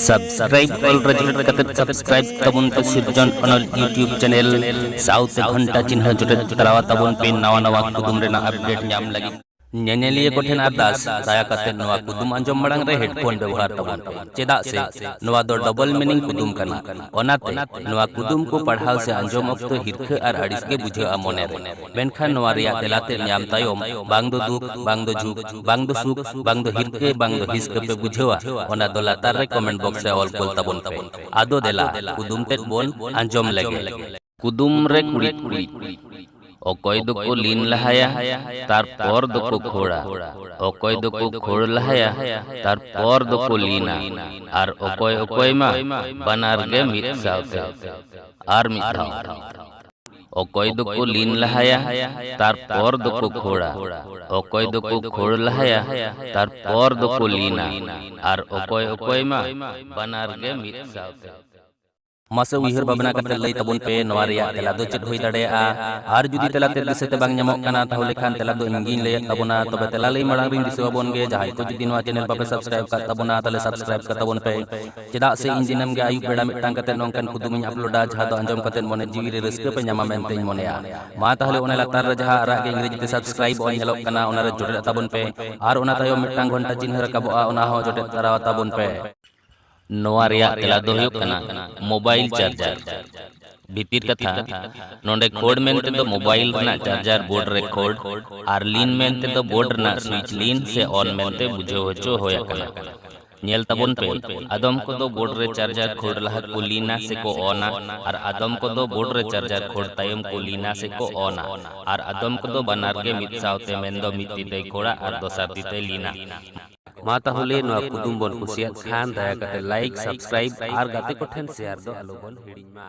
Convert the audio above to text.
Subscribe ᱚᱞ ᱨᱮᱡᱤᱞ ᱠᱟᱛᱮ ᱥᱟᱵᱥᱠᱨᱟᱭᱤᱵ ᱛᱟᱵᱚᱱ ᱯᱮ ᱥᱤᱨᱡᱚᱱ ᱚᱱᱚᱞ ᱭᱩᱴᱤᱭᱩᱵ ᱪᱮᱱᱮᱞ ᱥᱟᱶᱛᱮ ᱜᱷᱚᱱᱴᱟ ᱪᱤᱱᱦᱟᱹ ᱡᱚᱴᱮᱫ ᱛᱟᱞᱟᱣᱟ ᱛᱟᱵᱚᱱ ᱯᱮ ᱱᱟᱣᱟ ᱱᱟᱣᱟ ᱠᱩᱫᱩᱢ ᱨᱮᱱᱟᱜ ᱟᱯᱰᱮᱴ ᱧᱟᱢ ᱞᱟᱹᱜᱤᱫ ᱧᱮᱧᱮᱞᱤᱭᱟᱹ ᱠᱚᱴᱷᱮᱱ ᱟᱨᱫᱟᱥ ᱫᱟᱭᱟ ᱠᱟᱛᱮ ᱱᱚᱣᱟ ᱠᱩᱫᱩᱢ ᱟᱸᱡᱚᱢ ᱢᱟᱲᱟᱝ ᱨᱮ ᱦᱮᱰᱯᱷᱳᱱ ᱵᱮᱵᱚᱦᱟᱨ ᱛᱟᱵᱚᱱ ᱯᱮ ᱪᱮᱫᱟᱜ ᱥᱮ ᱱᱚᱣᱟ ᱫᱚ ᱰᱚᱵᱚᱞ ᱢᱤᱱᱤᱝ ᱠᱩᱫᱩᱢ ᱠᱟᱱᱟ ᱚᱱᱟᱛᱮ ᱱᱚᱣᱟ ᱠᱩᱫᱩᱢ ᱠᱚ ᱯᱟᱲᱦᱟᱣ ᱥᱮ ᱟᱸᱡᱚᱢ ᱚᱠᱛᱚ ᱦᱤᱨᱠᱷᱟᱹ ᱟᱨ ᱟᱹᱲᱤᱥ ᱜᱮ ᱵᱩᱡᱷᱟᱹᱜᱼᱟ ᱢᱚᱱᱮ ᱨᱮ ᱢᱮᱱᱠᱷᱟᱱ ᱱᱚᱣᱟ ᱨᱮᱭᱟᱜ ᱛᱮᱞᱟ ᱛᱮᱫ ᱧᱟᱢ ᱛᱟᱭᱚᱢ ᱵᱟᱝ ᱫᱚ ᱫᱩᱠ, ᱵᱟᱝ ᱫᱚ ᱡᱷᱩᱠ, ᱵᱟᱝ ᱫᱚ ᱥᱩᱠ, ᱵᱟᱝ ᱫᱚ ᱦᱤᱨᱠᱟᱹ, ᱵᱟᱝ ᱫᱚ ᱦᱤᱥᱠᱟᱹ ᱯᱮ ᱵᱩᱡᱷᱟᱹᱣᱟ ᱚᱱᱟ ᱫᱚ ᱞᱟᱛᱟᱨ ᱨᱮ ᱠᱚᱢᱮᱱᱴ ᱵᱚᱠᱥ ᱨᱮ ᱚᱞ ᱠᱩᱞ ᱛᱟᱵᱚᱱ ᱯᱮ᱾ ᱟᱫᱚ ᱫᱮᱞᱟ ᱠᱩᱫᱩᱢ ᱛᱮᱫ ᱵᱚᱱ ᱟᱸᱡᱚᱢ ᱞᱮᱜᱮ᱾ ᱠᱩᱫᱩᱢ ᱨᱮ ᱠᱩᱲᱤᱫ ᱠᱩᱲᱤᱫ᱾ ᱚᱠᱚᱭ ᱫᱚᱠᱚ ᱞᱤᱱ ᱞᱟᱦᱟᱭᱟ ᱛᱟᱨᱯᱚᱨ ᱫᱚᱠᱚ ᱠᱷᱳᱲᱟ᱾ ᱚᱠᱚᱭ ᱫᱚᱠᱚ ᱠᱷᱳᱲ ᱞᱟᱦᱟᱭᱟ ᱛᱟᱨᱯᱚᱨ ᱫᱚᱠᱚ ᱞᱤᱱᱟ᱾ ᱟᱨ ᱚᱠᱚᱭ ᱚᱠᱚᱭ ᱢᱟ ᱵᱟᱱᱟᱨ ᱜᱮ ᱢᱤᱫ ᱥᱟᱶᱛᱮ᱾ ᱟᱨ ᱢᱤᱫ ᱫᱷᱟᱣ᱾ ᱚᱠᱚᱭ ᱫᱚᱠᱚ ᱞᱤᱱ ᱞᱟᱦᱟᱭᱟ ᱛᱟᱨᱯᱚᱨ ᱫᱚᱠᱚ ᱠᱷᱳᱲᱟ ᱚᱠᱚᱭ ᱫᱚᱠᱚ ᱠᱷᱳᱲ ᱞᱟᱦᱟᱭᱟ ᱛᱟᱨᱯᱚᱨ ᱫᱚᱠᱚ ᱞᱤᱱᱟ ᱟᱨ ᱚᱠᱚᱭ ᱚᱠᱚᱭ ᱢᱟ ᱵᱟᱱᱟᱨ ᱜᱮ ᱢᱤᱫ ᱥᱟᱶᱛᱮ ᱢᱟᱥᱮ ᱩᱭᱦᱟᱹᱨ ᱵᱷᱟᱵᱽᱱᱟ ᱠᱟᱛᱮ ᱞᱟᱹᱭ ᱛᱟᱵᱚᱱ ᱯᱮ ᱱᱚᱣᱟ ᱨᱮᱭᱟᱜ ᱛᱮᱞᱟ ᱫᱚ ᱪᱮᱫ ᱦᱩᱭ ᱫᱟᱲᱮᱭᱟᱜᱼᱟ ᱟᱨ ᱡᱩᱫᱤ ᱛᱮᱞᱟ ᱛᱮ ᱫᱤᱥᱟᱹ ᱛᱮ ᱵᱟᱝ ᱧᱟᱢᱚᱜ ᱠᱟᱱᱟ ᱛᱟᱦᱚᱞᱮ ᱠᱷᱟᱱ ᱛᱮᱞᱟ ᱫᱚ ᱤᱧ ᱜᱤᱧ ᱞᱟᱹᱭᱮᱫ ᱛᱟᱵᱚᱱᱟ ᱛᱚᱵᱮ ᱛᱮᱞᱟ ᱞᱟᱹᱭ ᱢᱟᱲᱟᱝ ᱨᱤᱧ ᱫᱤᱥᱟᱹ ᱟᱵᱚᱱ ᱜᱮ ᱡᱟᱦᱟᱸᱭ ᱠᱚ ᱡᱩᱫᱤ ᱱᱚᱣᱟ ᱪᱮᱱᱮᱞ ᱵᱟᱯᱮ ᱥᱟᱵᱥᱠᱨᱟᱭᱤᱵ ᱠᱟᱜ ᱛᱟᱵᱚᱱᱟ ᱛᱟᱦᱚᱞᱮ ᱥᱟᱵᱥᱠᱨᱟᱭᱤᱵ ᱠᱟᱜ ᱛᱟᱵᱚᱱ ᱯᱮ ᱪᱮᱫᱟᱜ ᱥᱮ ᱤᱧ ᱫᱤᱱᱟᱹᱢ ᱜᱮ ᱟᱹᱭᱩᱵ ᱵᱮᱲᱟ ᱢᱤᱫᱴᱟᱝ ᱠᱟᱛᱮ ᱱᱚᱝᱠᱟᱱ ᱠᱩᱫᱩᱢ ᱤᱧ ᱟᱯᱞᱳᱰᱟ ᱡᱟᱦᱟᱸ ᱫᱚ ᱟᱸᱡᱚᱢ ᱠᱟᱛᱮ ᱢᱚᱱᱮ ᱡᱤᱣᱤ ᱨᱮ ᱨᱟᱹᱥᱠᱟᱹ ᱯᱮ ᱧᱟᱢᱟ ᱢᱮᱱᱛᱮᱧ ᱢᱚᱱᱮᱭᱟ ᱢᱟ ᱛᱟᱦᱞᱮ ᱚᱱᱟ ᱞᱟᱛᱟᱨ ᱨᱮ ᱡᱟᱦᱟᱸ ᱟᱨᱟᱜ ᱜᱮ ᱤᱝᱨᱮᱡᱤ ᱛᱮ ᱥᱟᱵᱥᱠᱨᱟᱭᱤᱵ ᱚᱞ ᱧᱮᱞᱚᱜ ᱠᱟᱱᱟ ᱚᱱᱟ ᱨᱮ ᱡᱚᱴᱮᱫ ᱛᱟᱵᱚᱱ ᱯᱮ ᱟᱨ ᱚᱱᱟ ᱛᱟᱭᱚᱢ ᱢᱤᱫᱴᱟᱝ ᱜᱷᱚᱱᱴᱟ ᱪᱤᱱᱦᱟᱹ ᱨᱟᱠᱟᱵᱚᱜᱼᱟ ᱚᱱᱟ ᱦᱚᱸ ᱡᱚᱴᱮᱫ ᱛᱟᱨᱟᱣ ᱛᱟᱵᱚᱱ ᱯᱮ ᱱᱚᱣᱟ ᱨᱮᱭᱟᱜ ᱛᱮᱞᱟ ᱫᱚ ᱦᱩᱭᱩᱜ ᱠᱟᱱᱟ ᱢᱳᱵᱟᱭᱤᱞ ᱪᱟᱨᱡᱟᱨ ᱵᱷᱤᱛᱤᱨ ᱠᱟᱛᱷᱟ ᱱᱚᱰᱮ ᱠᱷᱳᱲ ᱢᱮᱱᱛᱮ ᱫᱚ ᱢᱳᱵᱟᱭᱤᱞ ᱨᱮᱱᱟᱜ ᱪᱟᱨᱡᱟᱨ ᱵᱳᱨᱰ ᱨᱮ ᱠᱷᱳᱲ ᱟᱨ ᱞᱤᱱ ᱢᱮᱱᱛᱮ ᱫᱚ ᱵᱳᱨᱰ ᱨᱮᱱᱟᱜ ᱥᱩᱭᱤᱪ ᱞᱤᱱ ᱥᱮ ᱚᱱ ᱢᱮᱱᱛᱮ ᱵᱩᱡᱷᱟᱹᱣ ᱦᱚᱪᱚ ᱦᱩᱭ ᱟᱠᱟᱱᱟ ᱧᱮᱞ ᱛᱟᱵᱚᱱ ᱯᱮ, ᱟᱫᱚᱢ ᱠᱚᱫᱚ ᱵᱳᱨᱰ ᱨᱮ ᱪᱟᱨᱡᱟᱨ ᱠᱷᱳᱲ ᱞᱟᱦᱟ ᱠᱚ ᱞᱤᱱᱟ ᱥᱮ ᱠᱚ ᱚᱱᱟ ᱟᱨ ᱟᱫᱚᱢ ᱠᱚᱫᱚ ᱵᱳᱨᱰ ᱨᱮ ᱪᱟᱨᱡᱟᱨ ᱠᱷᱳᱲ ᱛᱟᱭᱚᱢ ᱠᱚ ᱞᱤᱱᱟ ᱥᱮ ᱠᱚ ᱚᱱᱟ ᱟᱨ ᱟᱫᱚᱢ ᱠᱚᱫᱚ ᱵᱟᱱᱟᱨ ᱜᱮ ᱢᱤᱫ ᱥᱟᱶᱛᱮ ᱢᱮᱱᱫᱚ ᱢᱤᱫ ᱛᱤ ᱛᱮᱭ ᱠᱷᱳᱲᱟ ᱟᱨ ᱫᱚᱥᱟᱨ ᱛᱤ ᱛᱮᱭ ᱞᱤᱱᱟ᱾ ᱢᱟ ᱛᱟᱦᱚᱞᱮ ᱱᱚᱣᱟ ᱠᱩᱫᱩᱢ ᱵᱚᱱ ᱠᱩᱥᱤᱭᱟᱫ ᱠᱷᱟᱱ ᱫᱟᱭᱟ ᱠᱟᱛᱮ ᱞᱟᱭᱤᱠ, ᱥᱟᱵᱥᱠᱨᱟᱭᱤᱵ ᱟᱨ ᱜᱟᱛᱮ ᱠᱚ ᱴᱷᱮᱱ ᱥᱮᱭᱟᱨ ᱫᱚ ᱟᱞᱚ ᱵᱚᱱ ᱦᱤᱲᱤᱧ ᱢᱟ᱾